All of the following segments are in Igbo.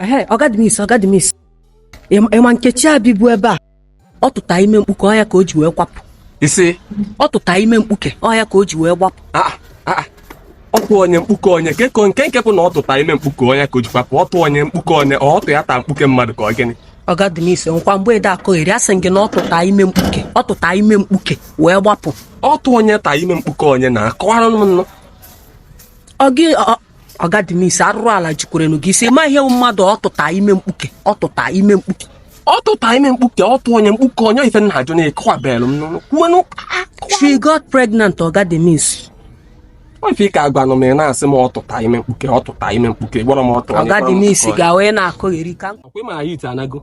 ehe ọgadimis ọgadimis ị ma nkechi a bibu ebe a ọ tụta ime mkpuke ọ ya ka o ji wee kwapụ ị sị ọ tụta ime mkpuke ọ ya ka o ji wee gbapụ ah, ah, ah. ọtụ onye mkpuke onye keko nke nke bụ na ọ tụta ime mkpuke onye ka o ji kwapụ ọtụ onye mkpuke onye ọtụ ya taa mkpuke mmadụ ka ọ gịnị ọgadimis nkwa mgbe ede akọgheri asị m gị na ọ tụta ime mkpuke ọ tụta ime mkpuke wee gbapụ ọtụ onye taa ime mkpuke onye na-akọwara m nụ ọgadimisi arụrụ ala jukwaranụ gị isi ma ihe mmadụ ọ tụta ime mkpuke ọ tụta ime mkpuke ọ tụta ime mkpuke ọtụ onye mkpuke onye ife m na-ajụ na-akọwabelụ m n'ụlọ kwuwenụ she got pregnant ọgadimisi ife ị ka agwanụ m ị na-asị m ọ tụta ime mkpuke ọ tụta ime mkpuke gwara m ọtụ ọgadimisi ga wee na-akọgheri ka ọkwa ị ma ya ite anago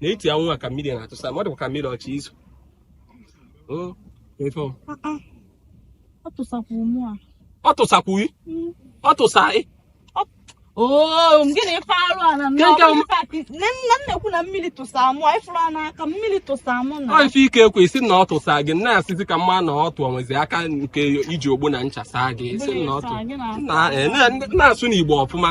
na-eti anwụ a ka mmiri na-atụsa m ọ dịkwa ka mmiri ọ chọ izo ọ tụsakwu ọ tụsa gịnị ife arụ a m na-ekwu na mmiri tụsa mụ ị fụrụ a n'aka mmiri tụsa mụ na ọ ife ị ka ekwu sị na ọ tụsa gị na-asịzi ka m ma na ọtụ enwezi aka nke iji ogbo na ncha saa gị isi na ọ tụ na-asụ n'igbo ọfụma